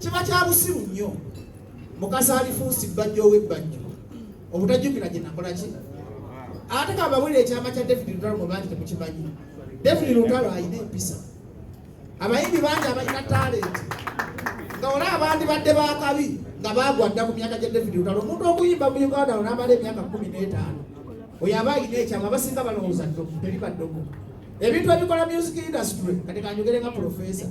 kiba kya busiru nnyo mukasa alifuusi bbajjo ow'ebbajjo obutajjukira gye nakola ki ate kababulira ekyama kya david lutalo mu bangi temukimanyi david lutalo alina empisa abayimbi bangi abalina talenti nga ola abandi badde bakabi nga bagwa dda ku myaka gya david lutalo omuntu okuyimba mu uganda onamala emyaka kumi n'etaano oyo aba alina ekyama abasinga balowooza teri baddogo ebintu ebikola music industry kati kanjogere nga professor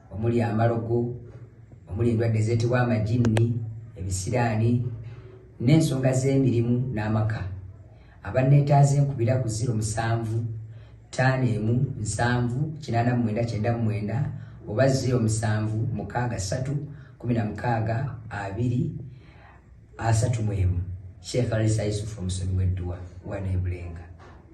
omuli amalogo omuli endwadde ezeetebwa amajinni ebisiraani n'ensonga z'emirimu n'amaka abanneetaaze nkubira ku ziro musanvu ttaano emu nsanvu kinaana mu mwenda kyenda mu mwenda oba ziro musanvu mukaaga ssatu kumi na mukaaga abiri asatu mu emu sheekh alisa yusufu omusomi w'edduwa waneebulenga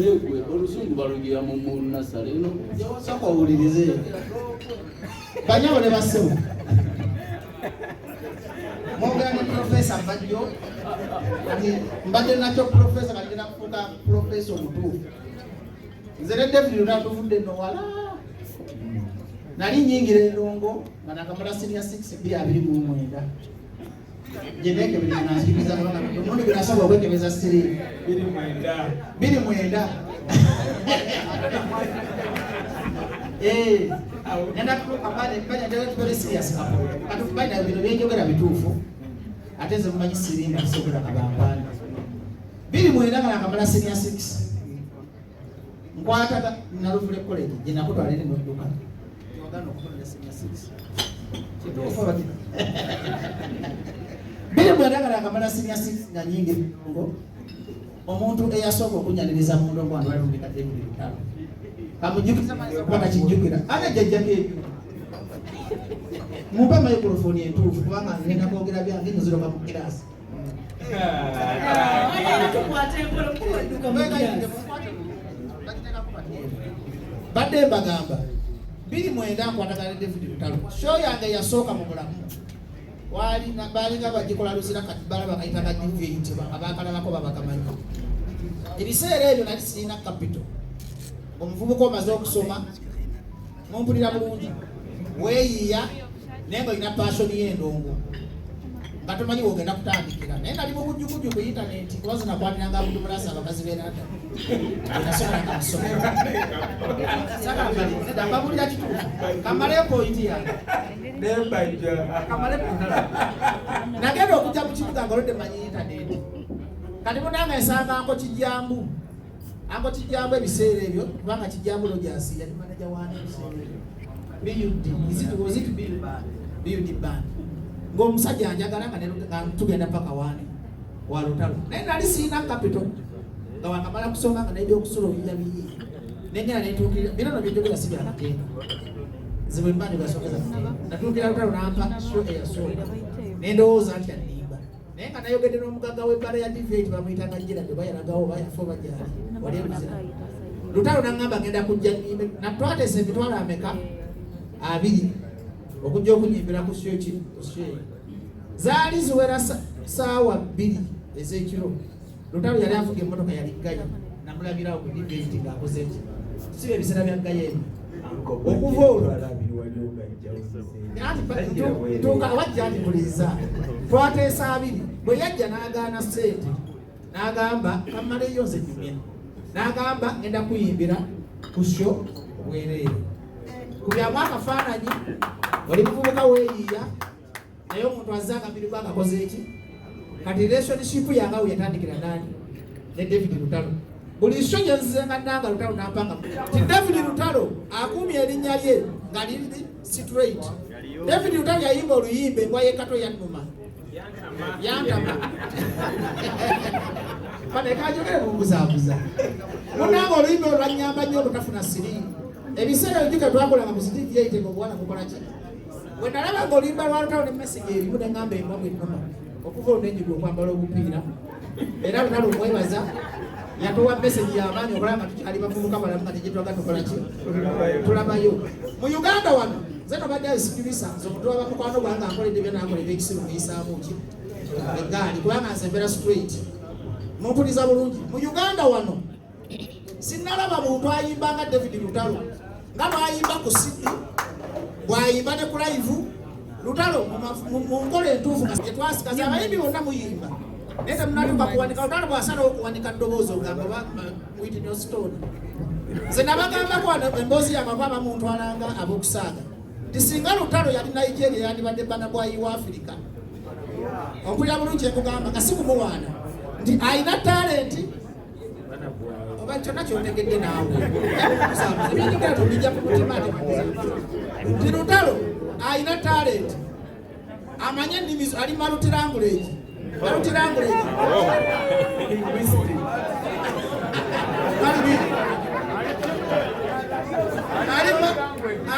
yegwe oluzungu balugira mu munasale eno yawasako awulirize banyabo ne basebo mwogera ne profesa bajjo nti mbadde nakyo profesa bagenda kufuuka profesa omutuufu nze ne david natuvudde nowala nali nyingira endongo nga nakamala sinia 6 2 2 mu mwenda biri mwenda eh, bino byenjogera bituufu ate nze mumanyi siringa kisobola kabampanda biri mwenda nga nakamala senior six nkwataga naluvule college gye nakutwala eri mu dduka wagana okukolera senior six kituufu abati biri bwendagala akamala senior six nga nyingi ngo omuntu eyasooka okunyaniriza mu ndongo wano balumika ebiri bitalo kamujjukiza mazi okuba kakijjukira ate jjajjako ebyo mumpe microphone entuufu kubanga ngenda kwogera byange nziroka mu kiraasi badde mbagamba biri mwenda nkwatagana david lutalo sho yange yasooka mu bulamu baalinga bagikola luzira kati balaba kayitaga dvt abakalalako babagamanyi ebiseera ebyo nali sirina kapito omuvubuka omaze okusoma mumpulira bulungi weeyiiya naye nga olina paasoni y'endongo nga tomanyi wogenda kutandikira naye nali mubujjukujju ku intaneti kuba zinakwatiranga abuntu mulasi abakazi berada enasobolanga musomeraababulira kituufu kamale pointi yange nagenda okujja mu kibuga nga olodde manyi intaneti kati munanga esanganko kijambu Ango kijjamu ebiseera ebyo kubanga kijjamu Rogers yali manager wa BUD is it was it BUD band BUD band ng'omusajja anjagala nga tugenda paka waani wa lutalo naye nali sirina capital nga wakamala kusoma nga n'ebyokusula oyiya biyi nengera netuukirira bino no byejogera si bya magenda zibwe mba ne basogeza natuukira lutalo nampa sho eyasooka nendowooza nti naye nga nayogedde n'omugagga w'ebbala ya diveti bamuyitanga jjerabe oba yalagawo oba yafa oba gyali wali emuzira lutalo nangamba ngenda kujja nimbe natwatesa emitwalo ameka abiri okujja okunyimbira ku syo ki ku syo zaali ziwera saawa bbiri ez'ekiro Lutalo yali avuga emmotoka yali ggayi namulabirawo ku dibeti ng'akoze ki si bye biseera bya ggayi ebyo okuva olwo tuuka awajja nti muliza twateesa abiri bwe yajja n'agaana sente n'agamba kammaleyo nze nyumya n'agamba ngenda kuyimbira ku sho obwereere ku byamu akafaananyi oli muvubuka weeyiiya naye omuntu azze akabiri gwe akakoze eki kati relationship yange awo yatandikira nani ne david lutalo buli kyo gye nzize nga nanga lutalo nampanga ti david lutalo akuumye erinnya lye nga liri straight david lutalo yayimba oluyimba engwa yekato yannuma yantama banekajogere bumbuzabuza munanga oluyimba olwanyamba nnyo obutafuna siri ebiseera ebyo gyo ketwakolanga mu sitiivi yaitega obuwana kukola kino bwe nalaba ng'olimba lwa lutalo ne mesegi erimu ne ngamba embwa bwennuma okuva olunenyiga okwambala obupiira era lutalo omwebaza yatuwa mesegi y'amaanyi okulaba nga tukyali bavubuka balamu nga tegyetulaga tukola ki tulabayo mu uganda wano nze nobadde asikirisa nze omuntu waba mukwano gwange ankoledde byo nankoledde ekisiru muyisaamu ki egaali kubanga nze mbeera straight mumpuliza bulungi mu uganda wano sinalaba muntu ayimba nga david lutalo nga bwayimba ku sidi bwayimba ne ku laivu lutalo mu nkola entuufu etwasikaza abayimbi bonna muyimba naye temunatuka kuwanika lutalo bwasalawo okuwanika ddoboozi ogamba witnostone nze nabagamba kwana emboozi yamava abamuntwalanga abokusaaga nti singa lutalo yali nigeria yandibadde bana bwayi wa afirika okulya bulungi ekugamba nga sikumuwaana nti alina talenti oba kyonna kyotegedde naawe ebyenjogera tobijja ku mutima nti lutalo alina talenti amanye ennimi ali malutirangulegi malutirangulegi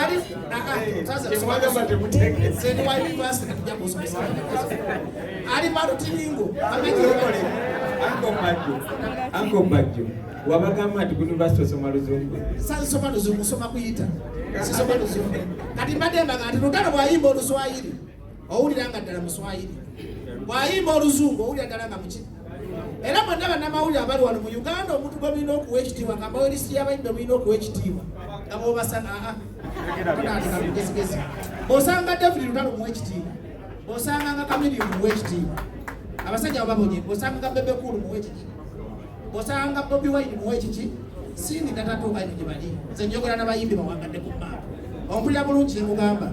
ali wabagamba nti kunivasite osoma luzungu sasoma luzungu soma kuyita sisoma luzungu kati mbadde mbaga nti lutalo bwayimba oluswayiri owulira nga ddala muswayiri bwayimba oluzungu owulira ddala nga muki era mwenna bannamawulire abali wano mu uganda omuntu gwe mulina okuwa ekitiibwa nga mbawerisi yabayimbe mulina okuwa ekitiibwa nga bobasana aa mugezigezi osanga david lutalo muwa ekitiibwa osanga nga kamiliyo muwa ekitiibwa abasajja babonye osanga nga bebe kulu muwa ekitiibwa osanga bobi wine muwa ekiki sindi tatatuuka nyo gye bali nze njogera nabayimbi bawangadde ku maaka ompulira bulungi kyemugamba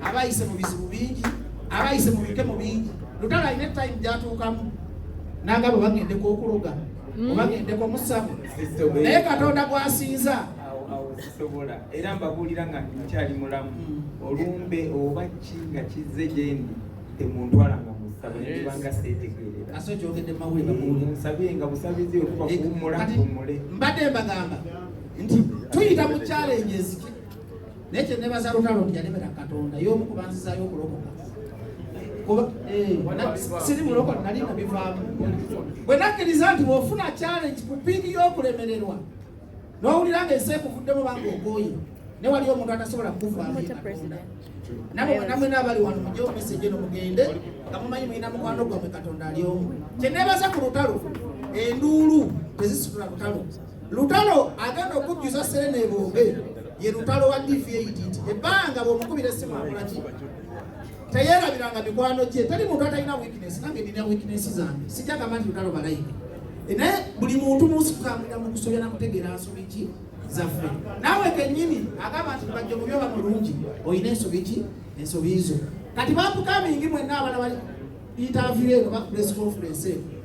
abayise mu bizibu bingi abayise mu bikemo bingi lutalo alina etayimu gyatuukamu nangabo bagendeko okuloga hmm. obagendeko musamu naye katonda gwasinza zisobola era mbabuulira nga nkyali mulamu hmm. olumbe oba ki nga kizze gyendi temuntwala nga musabo nekibanga setegeereransabye nga busabizi okuba kuwummula mpumule mbadde mbagamba nti tuyita mu kyalenje eziki naye kyenebaza lutalo nti yalemera katonda y'omu kubanzizayo okulokoka eh, siri muloko nali nabivaamu bwe nakkiriza nti bwofuna challenge ku piiki y'okulemererwa n'owulira nga ensi ekuvuddemu banga ogooye ne waliyo omuntu atasobola kukuvaamu katonda namwe n'abali wano mujje omeseje no mugende nga mumanyi mulina mukwano gwammwe katonda ali omu kyenebaza ku lutalo enduulu tezisitula lutalo Lutalo agenda okujjuza Serena ebombe ye lutalo wa DVADT ebbanga bw'omukubira essimu akolaki teyerabiranga mikwano gye teri muntu atalina weakness nange nina weakness zange sijja gamba nti lutalo balayika e, naye buli muntu munsi kukambulira mu kusobya na kutegeera nsobi ki zaffe naawe kennyini agamba nti bajja mu byoba mulungi olina ensobi ki ensobi zo kati bakukamingi mwenna abana bali interview eno ba press conference eno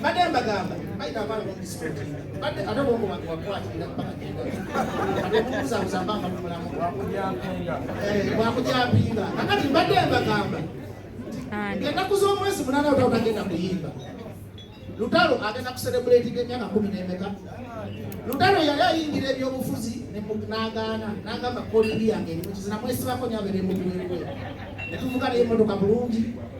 mbadde mbagamba bayina abaana b'omudistrict mbadde ate bwomu wange wakwatira bagenda ate kubuzabuza mbamba mu mulamu wakujampinga kakati mbadde mbagamba ennaku z'omwezi munana lutalo tagenda kuyimba lutalo agenda kuserebuletinga emyaka kumi n'emeka lutalo yali ayingira ebyobufuzi n'agaana n'agamba koliri yange erimu kizina mwesibako nyabeera emugulengwe netuvuga naye emotoka bulungi